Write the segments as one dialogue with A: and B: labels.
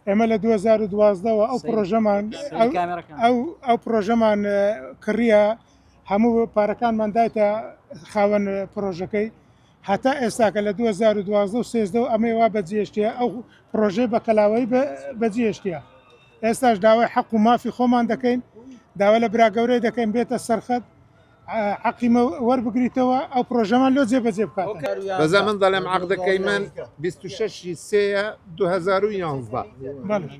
A: ئێمە لە دوو هەزار و دوازدە وە ئەو سەیری. پڕۆژەمان سەیری ئەو- کامێرەکان. ئەو ئەو پرۆژەمان اه، کڕیە هەموو پارەکانمان دایتە خاوەن اه، پرۆژەکەی هەتا ئێستاکە لە 2012 و 13 و ئەمەی وا بەجێشتە ئەو پرۆژەی بە کەلاوەی بە- بەجێشتە ئێستاش داوای حەق و مافی خۆمان دەکەین داوا لە براگەورەی دەکەین بێتە سەرخەت عەقی مە وەربگریتەوە ئەو پرۆژەمان لۆ جێ بەجێ بکات بەزە من دەڵێم
B: عقدەکەی من 26 سێە 2011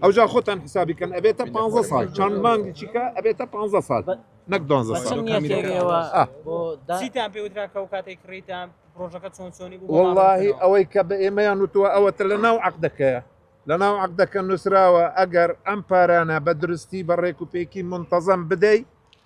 B: ئەوجا خۆتان حسابیکەن ئەبێتە 15 سال چەند مانگی چیکە ئەبێتە 15 سال نەک دۆزە ساڵتان پێوترا
C: کە و کاتێک کڕیتان پرۆژەکە چۆن چۆنی وڵی ئەوەی کە
B: بە ئێمەیان وتووە ئەوەتە لە ناو عقدەکەیە لە ناو عقدەکە نووسراوە ئەگەر ئەم پارانە بە درستی بە ڕێک و پێکی منتەزەم بدەیت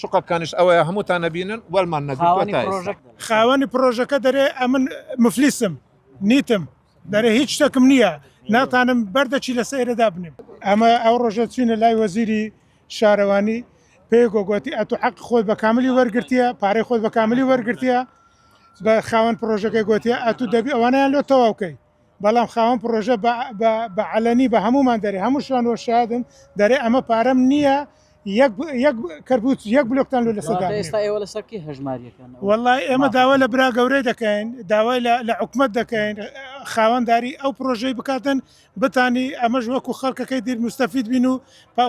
B: شوقەکانیش ئەوەیە هەمووتان نەبینن وەلمان نەگرتووە تا ئێستا. خاوەنی پرۆژەکە
A: دەرێ ئەمن مفلیسم نیتم دەرێ هیچ شتەکم نییە ناتانم بەردەچی لە سەیرە دابنێم ئەمە ئەو ڕۆژە چوینە لای وەزیری شارەوانی پێ گۆگۆتی ئەتو حەق خۆی بە کاملی وەرگرتیە پارەی خۆی بە کاملی وەرگرتیە بە خاوەن پرۆژەکەی گۆتیە ئەتو دەبی ئەوانیان لۆ تەواوکەی بەڵام خاوەن پرۆژە بە عەلەنی بە هەمومان دەرێ هەموو شوان وە شادن دەرێ ئەمە پارەم نییە کەربوت یەک بلوکتان لە سەدا ئێستا ئێوە لە سەرکی
C: هەژماریەکان وڵی ئێمە داوا
A: لە برا گەورەی دەکەین داوای لە حکومت دەکەین خاوەنداری ئەو پرۆژەی بکاتن بتانی ئەمەش وەکو خەڵکەکەی دیر مستەفید بین و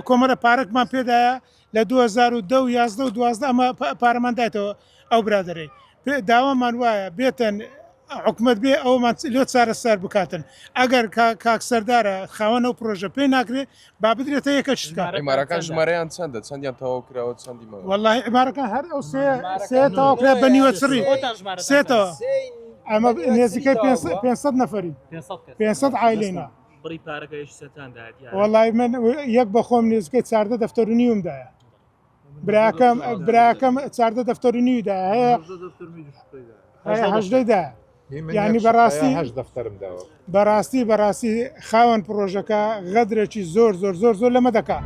A: کۆمەرە پارکمان پێدایە لە دوو هەزار و دە و یازدە و دوازدە ئەمە پارەمان دایتەوە ئەو برادەرەی پێ داوامان وایە بێتن حکومت بێ ئەومان لۆ چارە سەر بکاتن ئەگەر کاک سەردارە خاوەن ئەو پرۆژە پێی ناکرێ با بدرێتە یەکە شتکە عمارەکان ژمارەیان
D: چەندە چەندیان تەواو کراوە چەندی مە والله عمارەکان هەر
A: ئەو سێ سێ تەواو کرا بە نیوە چڕی سێتەوە ئەمە نێزیکە 500 نەفری 500 عیلێنە بڕی پارەکەش سەتان دا وڵی من یەک بەخۆم نزگە چاردە دەفتەر و نیوم دایە براکەم براکەم چاردە دەفتەر و نیودا هەیە هەشدەدا ینی بەڕاستی هەش دەفتەرم داوە بەڕاستی بەڕاستی خاوەن پرۆژەکە غەدرێکی زۆر زۆر زۆر زۆر لەمە دەکات.